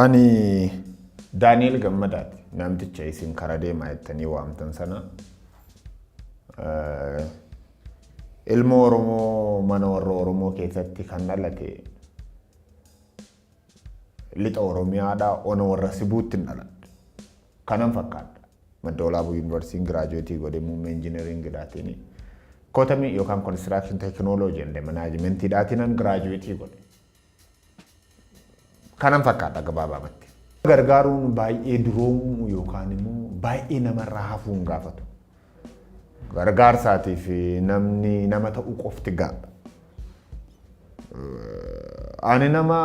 Ani Daani'el Gammadaati. Namticha isin kara deemaa jettanii waamtan sana ilmoo Oromoo mana warra Oromoo keessatti kan dhalate lixa Oromiyaadhaa ona warra Sibuutti hin dhaladhe. Kanan fakkaadha. Madda Olaabuu Yuunivarsiitiin giraajuweetii godhee muummee injinariingidhaatiin kotamii yookaan konistiraakshini teekinooloojii ende manaajimentiidhaatiinan giraajuweetii godhe. Kanan fakkaadha gabaabaamatti. Gargaaruun baay'ee duroomuu yookaan immoo baay'ee namarraa hafuu hin gaafatu. Gargaarsaatiif namni nama ta'uu qofti gaadha. Ani nama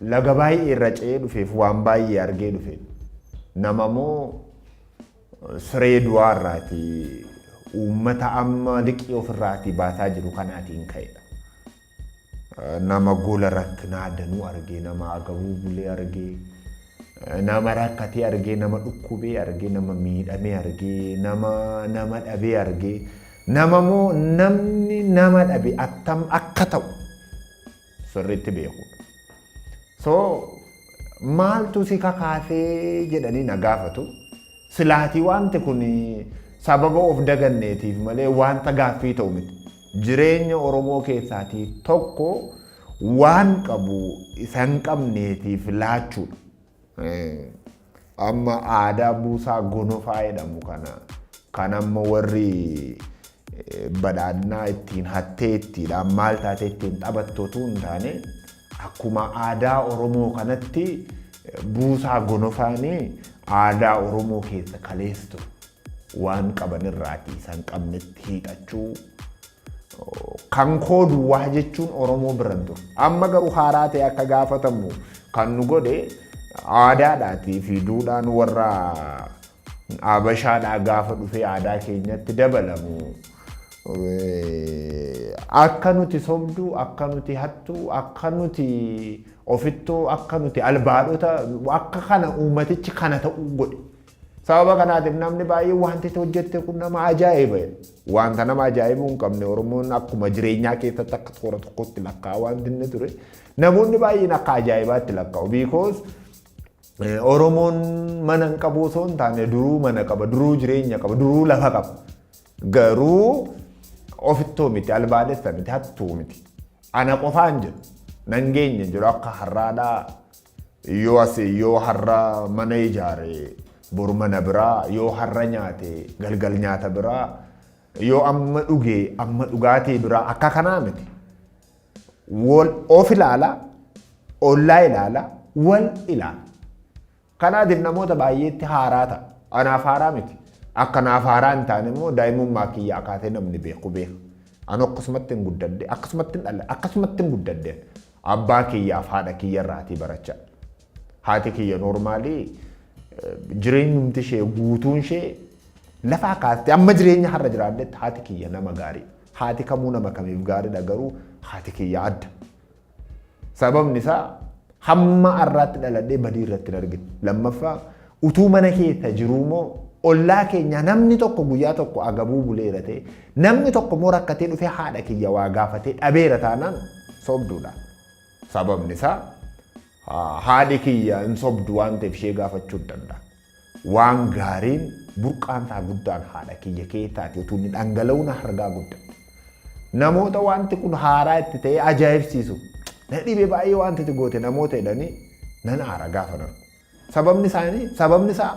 laga baay'ee irra ce'ee dhufeef waan baay'ee argee dhufe. Nama moo siree du'aa irraati uummata amma liqii ofirraatii baasaa jiru kanaatiin ka'edha. Nama gola rakkinaa danuu argee nama agabuu bulee argee nama rakkatee argee nama dhukkubee argee nama miidhamee argee nama nama dhabee argee nama moo namni nama dhabe attam akka ta'u sirriitti beekuudha. So maaltu si kakaasee jedhanii na gaafatu. Silaatii wanti kun sababa of daganneetiif malee wanta gaaffii ta'u miti. Jireenya Oromoo keessaatii tokko waan qabu isa hin qabneetiif laachuudha. Amma aadaa buusaa gonofaa jedhamu kana kan amma warri badhaadhinaa ittiin hattee ittiidhaan maal taatee ittiin taphattu utuu hin taane akkuma aadaa Oromoo kanatti buusaa gonofaanii aadaa Oromoo keessa kaleessa ture. waan qaban irraati san qabnetti hiixachuu kan koo duwwaa jechuun Oromoo biran ture. Amma garuu haaraa ta'e akka gaafatamu kan nu godhe aadaadhaatii fi duudhaan warra Abashaadhaa gaafa dhufee aadaa keenyatti dabalamu. Akka nuti sobdu, akka nuti hattu, akka nuti ofittoo, akka nuti albaadhota, akka kana uummatichi kana ta'uu godhe. Sababa kanaatiif namni baay'een wanti ati hojjette kun nama ajaa'iba jedha. Wanta nama ajaa'ibuu hin qabne Oromoon akkuma jireenyaa keessatti akka toora tokkotti lakkaa wanti inni ture namoonni baay'een akka ajaa'ibaatti lakkaa'u. Because eh, Oromoon mana hin qabu osoo hin taane duruu mana qaba, duruu jireenya qaba, duruu lafa qaba. Garuu ofittoo miti, albaalessa miti, hattuu miti. Ana qofaan jedhu, nan geenye jedhu akka har'aadhaa Yoo asi yoo harra mana ijaare boru mana biraa yoo harra nyaate galgal nyaata biraa yoo amma dhuge amma dhugaatii biraa akka kanaa miti. Wal of ilaala, ollaa ilaala, wal ilaala. Kanaatiif namoota baay'eetti haaraa ta'a. Anaaf haaraa miti. Akka naaf haaraa hin taane immoo daa'imummaa kiyyaa kaasee namni beeku beeka. Anu akkasumatti hin guddadde, akkasumatti hin dhalle, akkasumatti hin guddadde. Abbaa kiyyaaf haadha kiyya irraatii baracha. Haati kiyya normally jireenyumti ishee guutuun ishee lafaa kaastee amma jireenya har'a jiraadhetti haati kiyya nama gaarii. Haati kamuu nama kamiif gaariidha garuu haati kiyya adda. Sababni isaa hamma har'aatti dhaladhee badii irratti hin argine. Lammaffaa Utuu mana keessa jiruu moo ollaa keenyaa namni tokko guyyaa tokko agabuu buleera ta'e namni tokko moo rakkatee dhufee haadha kiyya waa gaafatee dhabeera taanaan sobduudha. Sababni isaa haadhi kiyya hin sobdu waan ta'eef ishee gaafachuu hin danda'a. Waan gaariin burqaan isaa guddaan haadha kiyya keessaati utuu inni dhangala'uu na hargaa guddadhe. Namoota wanti kun haaraa itti ta'ee ajaa'ibsiisu na dhibe baay'ee wanti itti goote namoota jedhanii nan aara gaafa darbu. Sababni isaanii sababni isaa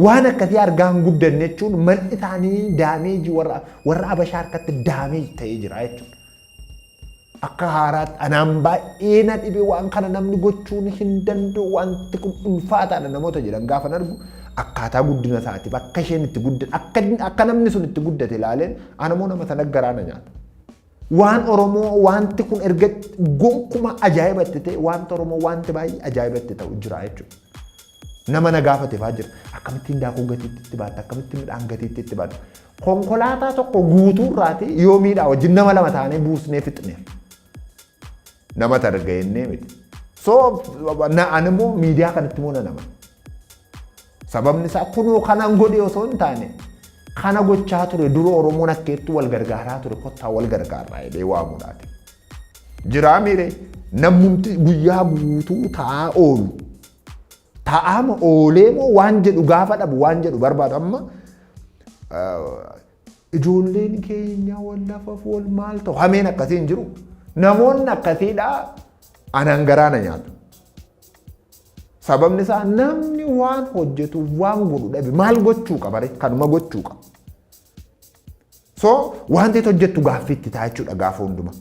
waan akkasii argaa hin guddanne jechuun manni isaanii daameejii warra warra abashaa harkatti daameej ta'ee jira jechuudha. Akka haaraatti anaan baay'ee na dhibe waan kana namni gochuun hin danda'u wanti kun ulfaataadha namoota jedhan gaafa argu akkaataa guddina isaatiif akka isheen itti guddate akka akka namni sun itti guddate ilaaleen anamoo nama sana garaa na nyaata. Waan Oromoo wanti kun erga gonkuma ajaa'iba itti ta'e wanta Oromoo wanti baay'ee ajaa'iba itti ta'u jira jechuudha. Nama na gaafate fa'aa jira. Akkamittiin daakuu gatiitti itti baatta? Akkamittiin midhaan gatiitti itti baatta? Konkolaataa tokko guutuu irraati yoo miidhaa wajjin nama lama taanee buusnee fixneef. Nama targa jennee miti. So na animmoo miidiyaa kanatti immoo na nama. Sababni isaa kunoo kanan godhe osoo hin taane kana gochaa ture dura Oromoon akkeetti wal gargaaraa ture kottaa wal gargaarraa jedhee waamudhaati. Jiraa miire namumti guyyaa guutuu ta'aa oolu. Ta'aama oolee moo waan jedhu gaafa dhabu waan jedhu barbaadu amma ijoolleen keenya wal lafaf wal maal ta'u hameen akkasii hin jiru. Namoonni akkasiidhaa anaan garaa na nyaatu. Sababni isaa namni waan hojjetuuf waan godhu dhabe maal gochuu qaba ree? Kanuma gochuu qaba. So wanti itti hojjettu gaaffii itti ta'a jechuudha gaafa hundumaa.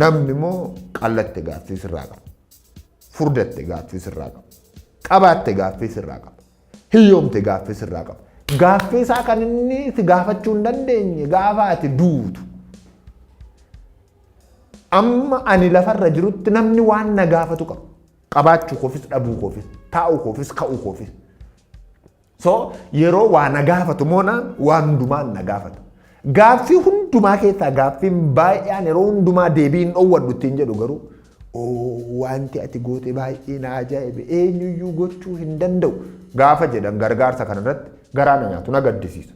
Namni immoo qallatte gaaffii sirraa qaba. Furdatte gaaffii sirraa qaba. Qabaatte gaaffii sirraa qaba. Hiyyoomte gaaffii sirraa qaba. Gaaffii isaa kan inni si gaafachuu hin dandeenye gaafa ati duutu. Amma ani lafarra jirutti namni waan na gaafatu qaba. Qabaachuu koofis dhabuu koofis taa'uu koofis ka'uu koofis. So yeroo waa na gaafatu moonaan waan hundumaan na gaafata. Gaaffii hundumaa keessaa gaaffiin baay'een yeroo hundumaa deebii hin dhoowwadhu ittiin jedhu garuu oo wanti ati goote baay'ee na ajaa'ibe eenyuyyuu gochuu hin danda'u gaafa jedhan gargaarsa kana irratti garaa na nyaatu na gaddisiisu.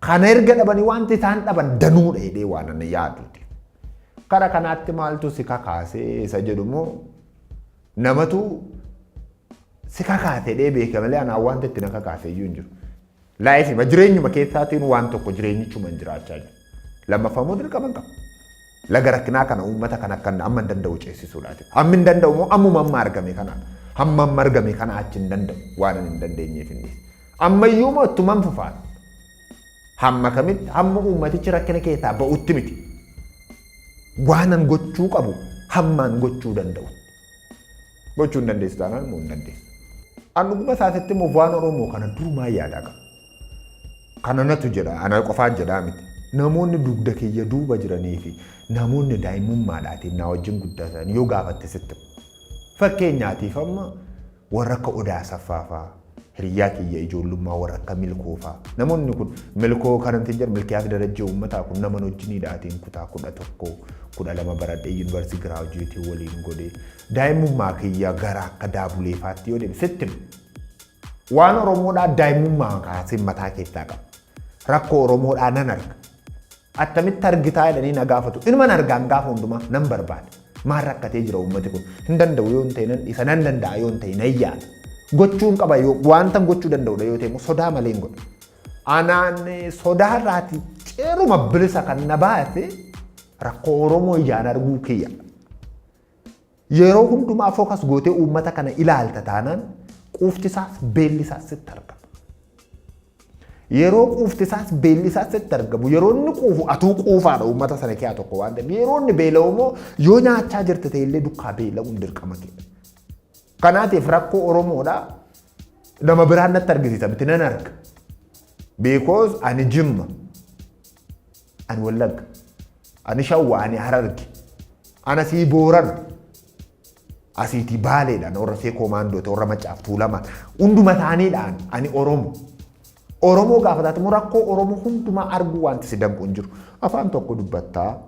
Kana erga dhabanii wanti isaan dhaban danuudha jedhee waan ani yaaduuti. Kara kanaatti maaltu si kakaasee isa jedhu immoo namatu si kakaase jedhee beeka malee anaa wanti itti na kakaase iyyuu hin jiru. Laayifima jireenyuma keessaatiin waan tokko jireenyichuma hin jiraachaa jiru. Lammaffaa immoo dirqama hin qabu. Laga rakkinaa kana uummata kan akka amma hin danda'u ceesisuudhaati. Hammi hin danda'u immoo ammuma amma argame kana hamma amma argame kana achi hin danda'u waan hin dandeenyeef hin dhiisu. Ammayyuu immoo ittuma hin fufaan. Hamma kamitti hamma uummatichi rakkina keessaa ba'utti miti. Waanan gochuu qabu hammaan gochuu danda'u. Gochuu hin dandeessu taanaan immoo hin dandeessu. An dhuguma isaatitti immoo waan Oromoo kana durumaa yaadaa qaba. Kana natu jedha, ana qofaan jedhaa miti. Namoonni dugda kiyya duuba jiranii fi namoonni daa'imummaadhaatiin naa wajjin guddatan yoo gaafatte sitti. Fakkeenyaatiif amma warra akka Odaa Asaffaa fa'aa, Hiriyyaa kiyya ijoollummaa warra akka Milkoo faa. Namoonni kun Milkoo kanan ittiin jedhu Milkiyaas Darajjee Uummataa kun naman wajjinii dhaatiin kutaa kudha tokko kudha lama baradhe yuunivarsiitii giraawujeetii waliin godhe. Daa'imummaa kiyya gara akka daabulee faatti yoo deemu sitti himu. Waan Oromoodhaa daa'imummaa kaasee mataa keessaa qaba. Rakkoo Oromoodhaa nan arga. Attamitti argitaa jedhanii na gaafatu. Inuman argaan gaafa hundumaa nan barbaada. Maal rakkatee jira uummati kun? Hin danda'u yoo hin ta'e nan dhiisa, nan danda'a yoo hin ta'e nan yaala. Gochuun qaba yoo waantan gochuu danda'udha yoo ta'e immoo sodaa malee hin godhu. Anaan sodaarraati ceeruma bilisa kan na baase rakkoo Oromoo ijaan arguu kiyya. Yeroo hundumaa focus gootee uummata kana ilaalta taanaan quuftisaas beellisaas sitti argama. Yeroo quuftisaas beellisaas sitti argamu yeroo inni quufu atuu quufaadha uummata sana kiyaa tokko waan ta'eef yeroo inni beela'u immoo yoo nyaachaa jirte ta'e illee dukkaa beela'uun dirqama keedha. Kanaatiif rakkoo Oromoodha nama biraan natti argisiisa miti nan arga. Because ani jimma. Ani Wallagga. Ani Shawwa. Ani Hararge. Ana sii Boorana. Asiitii Baaleedhaan warra see koomaandoota warra Macaaf Tuulama hunduma isaaniidhaan ani Oromo. Oromoo gaafa taate immoo rakkoo Oromoo hundumaa arguu wanti si danqu hin jiru. Afaan tokko dubbattaa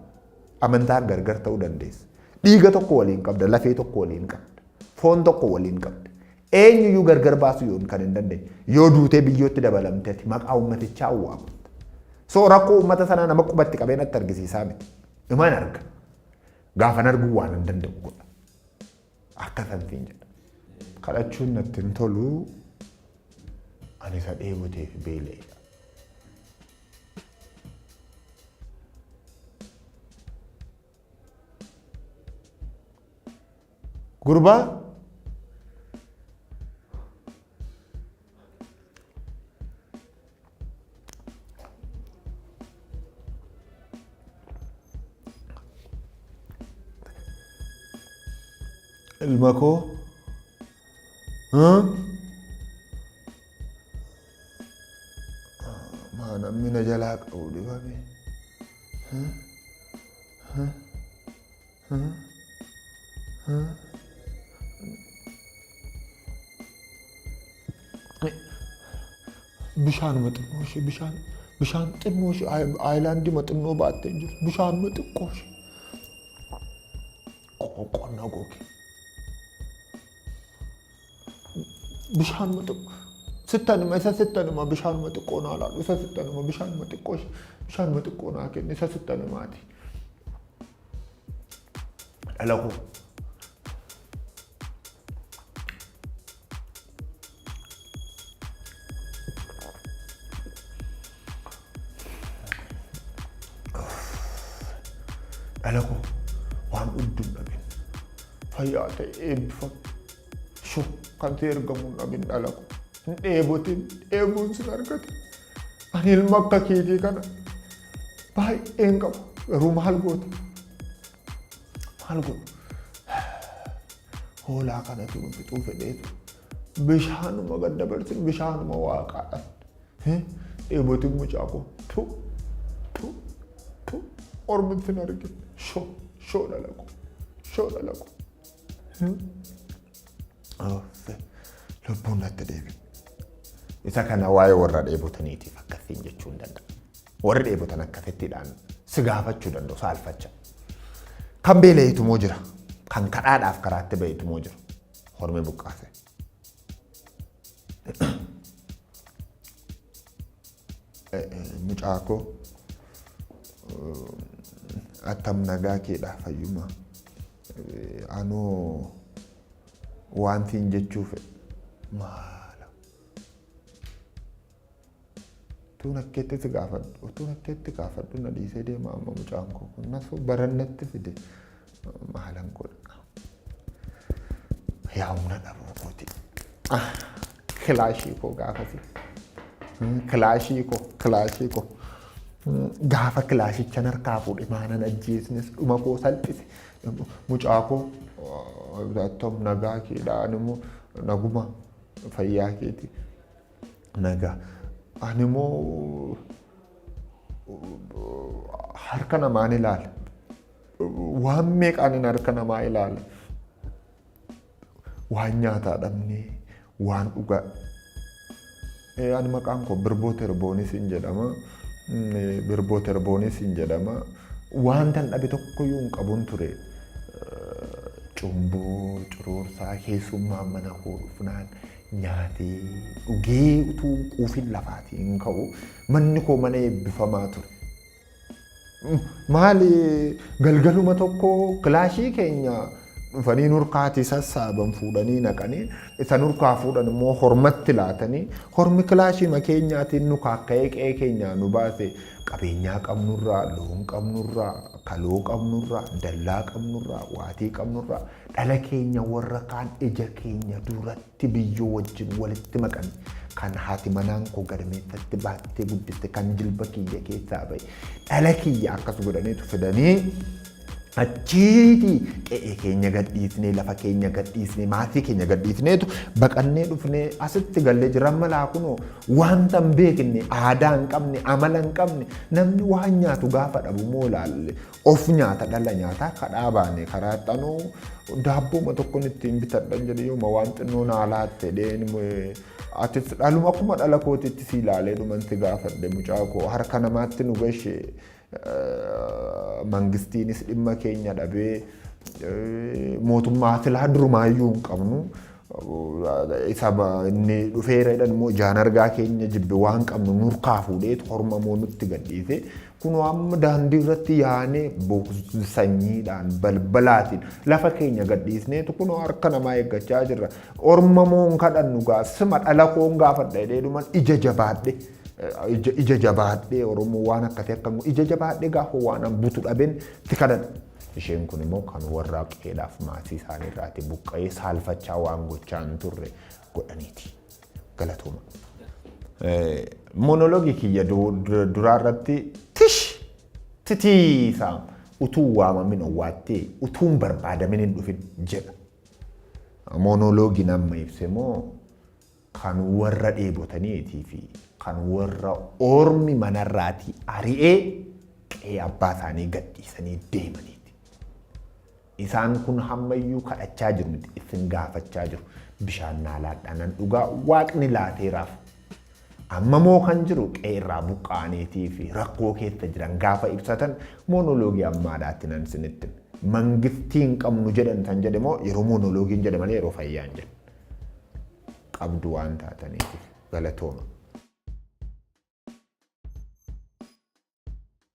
amantaan gargar ta'uu dandeessa. Dhiiga tokko waliin qabda, lafee tokko waliin qabda. Foon tokko waliin qabda. Eenyuyyuu gargar baasuu yoon kan hin dandeenye. Yoo duutee biyyootti dabalamte ati maqaa uummatichaa waamamta. So rakkoo uummata sanaa nama qubatti qabee natti argisiisaa miti. Iman arga. Gaafan arguu waan hin danda'u godha. Akka sanfiin jedha. Kadhachuun natti hin tolu. Ani isa dheebotee fi beela'edha. Gurbaa ilma koo Huh? Maa namni na jalaa qabu dhibame. Bishaan xinnoo ishee bishaan bishaan xinnoo ishee aayilaandii xinnoo baattee jirtu bishaan xiqqoo ishee. Qoqqonna goge. bishaanuma xiqqoo sittanuma isa sittanuma bishaanuma xiqqoo naa laadhu isa sittanuma bishaanuma xiqqoo bishaanuma xiqqoo naa kenni isa sittanumaati. Dhala koo. Dhala koo waan dhugdu hin dhabin. Fayyaa ta'e eebbifam. Shu kan ta'e ergamu hin dhabin dhala koo. Hin dheebotin dheebuun sin argate. Ani ilma akka keetii kana baay'een qaba. Garuu maal goota? Maal goota? Hoolaa kanatu nu fixuu fedheetu. Bishaanuma gad dabarsin bishaanuma waaqaa dhabne. Dheebotiin mucaa koo tu tu tu ormitti hin argine shoo shoo dhala koo shoo dhala koo. Offe lubbuun natti deebi. Isa kana waa'ee warra dheebotaniitiif akkasiin jechuu hin danda'u. Warri dheebotan akkasittiidhaan si gaafachuu danda'u saalfacha. Kan beela'eetu moo jira? Kan kadhaadhaaf karaatti ba'eetu moo jira? hormee buqqaate. Mucaa koo attam nagaa keedha fayyuma. Anoo waan siin jechuu fedhe maala. Utuun akkeetti si gaafadhu, utuun akkeetti gaafadhu na dhiisee deema amma mucaan koo kun na soo barannatti fide maalan godha. Yaa humna dhabuu kooti. Ah, Kilaashii koo gaafasi. Mm, Kilaashii koo, kilaashii koo. Mm, Gaafa kilaashicha narkaa fuudhe maanan ajjeesnes dhuma koo salphise. Mucaa koo attam nagaa keedhaan immoo naguma fayyaa keeti. Nagaa. Ani immoo harka namaan ilaala. Waan meeqaan hin harka namaa ilaala. Waan nyaataa dhabnee, waan dhugaa. Eh, Ani maqaan koo birboo terboonis hin jedhama. Mm, eh, Birboo terboonis hin jedhama. Waantan dhabe tokkoyyuu hin qabun ture. Eh, Cumboo, curuursaa, keessummaan mana koo dhufnaan Nyaatee, dhugee utuu hin quufin lafaatii hin ka'u. Manni koo mana eebbifamaa ture. Maali galgaluma tokko kilaashii keenya dhufanii nurkaatii sassaaban fuudhanii naqanii isa nurkaa fuudhan immoo hormatti laatanii hormi kilaashiima keenyaatiin nu kaakka'ee qe'ee keenyaa nu baase qabeenyaa qabnurraa loon qabnurraa kaloo qabnurraa dallaa qabnurraa waatii qabnurraa Dhala keenya warra kaan ija keenya duratti biyyoo wajjin walitti makame, kan haati manaan koo gadameessatti baattee guddifte, kan jilba kiyya keessaa ba'e, dhala kiyya akkas godhaniitu fidanii achiitii qe'ee keenya gadhiisnee, lafa keenya gadhiisnee, maatii keenya gadhiisneetu baqannee dhufnee asitti gallee jiran malaa kunoo wanta hin beekne, aadaa hin qabne, amala hin qabne, namni waan nyaatu gaafa dhabu moo ilaalle, Of nyaata dhala nyaata kadhaa baane karaa xanoo daabbooma tokkon ittiin bitadhan jedhe yooma waan xinnoo naa laatte dheen atis dhaluma akkuma dhala kootitti si ilaalee dhumanti gaafadhe mucaa koo harka namaatti nu gashe mangistiinis dhimma keenya dhabee mootummaa silaa durumaayyuu hin qabnu isa inni dhufeera jedhan immoo jaan argaa keenya jibbe waan qabnu nurkaa fuudhee hormamoo nutti gadhiise Kunoo amma daandii irratti yaanee bu- sanyiidhaan, balbalaatiin, lafa keenya gadhiisneetu kunoo harka namaa eeggachaa jirra. Orma moo hin kadhannu gaa sima dhala koon gaafadha jedhee dhuman ija jabaadhe. Eh, Ija, ija jabaadhe Oromoo waan akkati akka nu ija jabaadhe gaafa waan an butu dhaben itti kadhadhe. Isheen kun immoo kan warra qeedhaaf maatii isaanii irraati buqqa'ee saalfachaa waan gochaa hin turre godhaniiti. Galatooma. Monologii kiyya duraa irratti tish titii saam utuu waamamin owwaattee utuun barbaadamin hin dhufin jedha. Monologii nama ibse moo kan warra dheebotaniitii fi kan warra ormi manarraatii ari'ee qe'ee abbaa isaanii gadhiisanii deemaniiti. Isaan kun hammayyuu kadhachaa jiru miti, isin gaafachaa jiru. Bishaan naa laadhaa nan dhugaa, Waaqni laateeraaf. Amma moo kan jiru qe'ee irraa buqqa'aniitii fi rakkoo keessa jiran gaafa ibsatan moonooloogii ammaadhaatti nan isinitti hime. Mangistii hin qabnu jedhan tan jedhe moo yeroo moonooloogiin jedhe malee yeroo fayyaan jedhe. Qabdu waan taataniif galatooma.